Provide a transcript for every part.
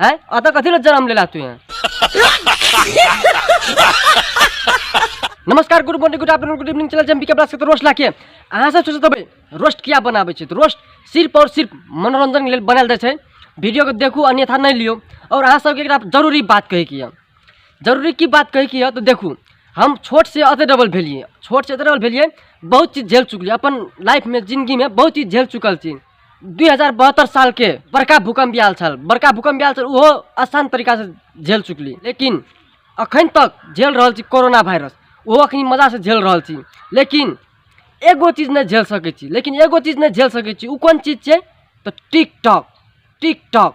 है अतः कथी ला जन्म लेला तू यहाँ नमस्कार good morning good afternoon good evening चला जम बिके ब्लास के रोस्ट लाके अहाँ सब सोचत हबै रोस्ट किया बनाबै छै तऽ रोस्ट सिर्फ और सिर्फ मनोरंजन के लेल बनायल जाइ छै वीडियो के देखू अन्यथा नहीं लियो और अहाँ सबके एकरा जरूरी बात कहै के यऽ जरूरी की बात कहै के यऽ तऽ देखू हम छोट से अते डबल भेलियै छोट से अते डबल भेलियै बहुत चीज झेल चुकलियै अपन लाइफ में जिंदगी में बहुत चीज झेल चुकल छी दुई हजार बहत्तर सालके बड़का भूकम्प आयल छल बड़का भूकम्प आयल छल ओहो आसान तरीकासँ झेल चुकली लेकिन अखन तक झेल रहल छी कोरोना वायरस ओहो अखन मजासँ झेल रहल छी लेकिन एगो चीज नहि झेल सकै छी लेकिन एगो चीज नहि झेल सकै छी ओ कोन चीज छै तऽ टिकटॉक टिकटॉक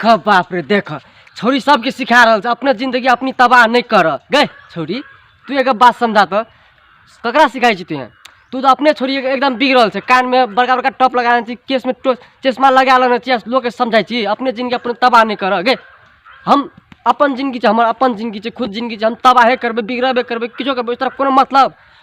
ख बाप रे देख छौरी सबके सिखा रहल छै अपने जिंदगी अपनी तबाह नहीं कर गए छौरी तू एक बात समझा तो ककरा सिखाई छी तुहें तू तो अपने छोरी एकदम बिग रहल छै कान में बड़का बड़का टॉप लगा छी केस में टो- चश्मा लगा लेने छी लोग के समझाई छी अपने जिंदगी अपने तबाह नहीं कर गए हम अपन जिंदगी छै हमर अपन जिंदगी छै खुद जिंदगी छै हम तबाहे करबै बिगड़बे करबै किछो करबै ओहि तरह कोनो मतलब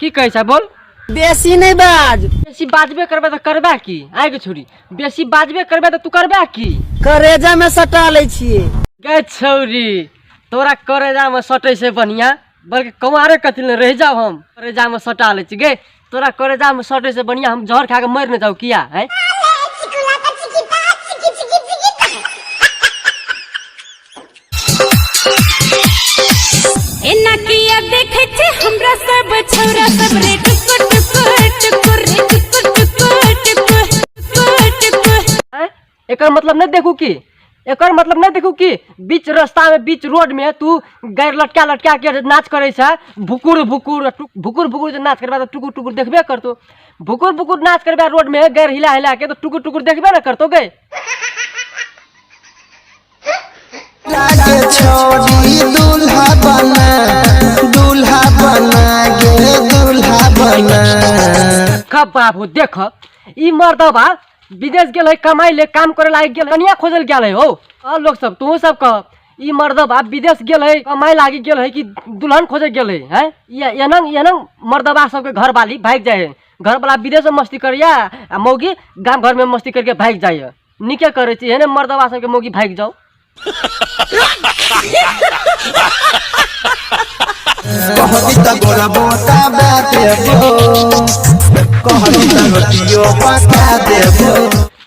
की कहै छै बोल बेसी नहि बाज बेसी बाजबे करबे तऽ करबे की आइ के छोड़ी बेसी बाजबे करबे तऽ तू करबे की करेजा में सटा लै छियै गे छौरी तोरा करेजा में सटै से बढ़िया बल्कि कमारे कथी ले रह जाओ हम करेजा में सटा लै छी गे तोरा करेजा में सटै से बढ़िया हम जहर खा के मर न जाऊ किया है एना किया देखे छे हमरा सब छोरा सब रे टुकुर टुकुर टुकुर रे टुकुर टुकुर टुकुर टुकुर टुकुर आँय? एकर मतलब नहीं देखू की एकर मतलब नहीं देखू की बीच रास्ता में बीच रोड में तू गैर लटका लटका के नाच करे छ भुकुर भुकुर टुक- भुकुर भुकुर जे नाच करबा तो टुकुर टुकुर देखबे करतो भुकुर भुकुर नाच करबा रोड में गैर हिला हिला के तो टुकुर टुकुर देखबे ना करतो गए लागे छोड़ी दूल्हा बना दूल्हा बना गे दूल्हा बना देखा बाबू देख ई मर्दबा विदेश गेल है कमाई ले काम करे लागे गेल कनिया खोजल गेल है हो और लोग सब तू सब कह ई मर्दबा विदेश गेल है कमाई लागे गेल है कि दुल्हन खोजे गेल है हैं ये एनंग एनंग मर्दबा सबके घर वाली भाग जाए है घर वाला विदेश में मस्ती करिया आ मौगी गांव घर में मस्ती करके भाग जाए है नीके करै छी एहने मर्दवा सबके मोगी भागि जाओ कहबी त गोरा बोता बा देबो कहबी त रोटियो पका देबो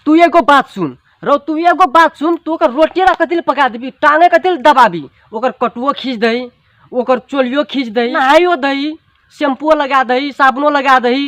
तू एगो बात सुन रौ तू एगो बात सुन तू ओकर रोटिए रख दिल पका देबी टांगे के दिल दबाबी ओकर कटुओ खींच दही ओकर चोलियो खींच दही नहाइयो दही शैम्पूओ लगा दही साबुनो लगा दही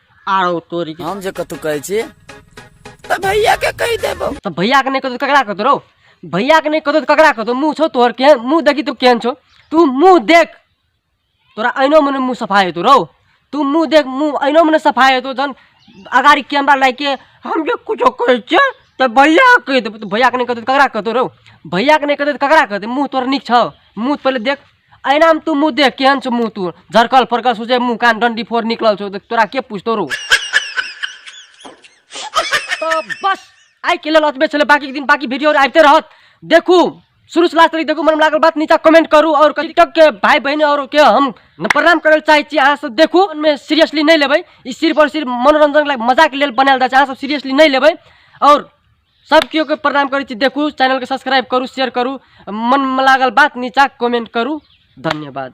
आरो तोरी के हम जे कतौ कहै छी तऽ भैया के कहि देबो तऽ भैया के नहि कतौ ककरा कतौ रौ भैया के नहि कतौ तऽ ककरा कतौ मुंह छौ तोहर केहन मुंह देखी तू केहन छौ तू मुंह देख तोरा अहिनो मने मुंह सफाइ हेतौ रौ तू मुंह देख मुंह अहिनो मने सफाइ हेतौ जहन अगाड़ी कैमरा लागि के हम जे कुछो कहै छियै तऽ भैया के कहि देबौ तऽ भैया के नहि कतौ तऽ ककरा कतौ रौ भैया के नहि कतौ तऽ ककरा कतौ मुंह तोहर नीक छौ मुंह पहिले देख एनामे तू मुँह देख केहन छौ मुँह तू झरकल फरकल सोचे मुँह कान डंडी फोड़ निकलल छौ देख तोरा के पूछतो रो तो बस आइ के लेल अतबे छलै बाकी दिन बाकी वीडियो आबिते रहत देखू शुरू से लास्ट तक देखू मन लागल बात नीचा कमेंट करू और टिकटॉक के भाई बहन और के हम प्रणाम करे चाहे छी अहाँ सब देखू में सीरियसली नहीं लेबै ई सिर्फ और सिर्फ मनोरंजन लायक मजाक लेल बनायल जाय छै अहाँ सब सीरियसली नहीं लेबै और सब केओ के प्रणाम करै छी देखू चैनल के सब्सक्राइब करू शेयर करू मन में लागल बात नीचा कमेंट करू धन्यवाद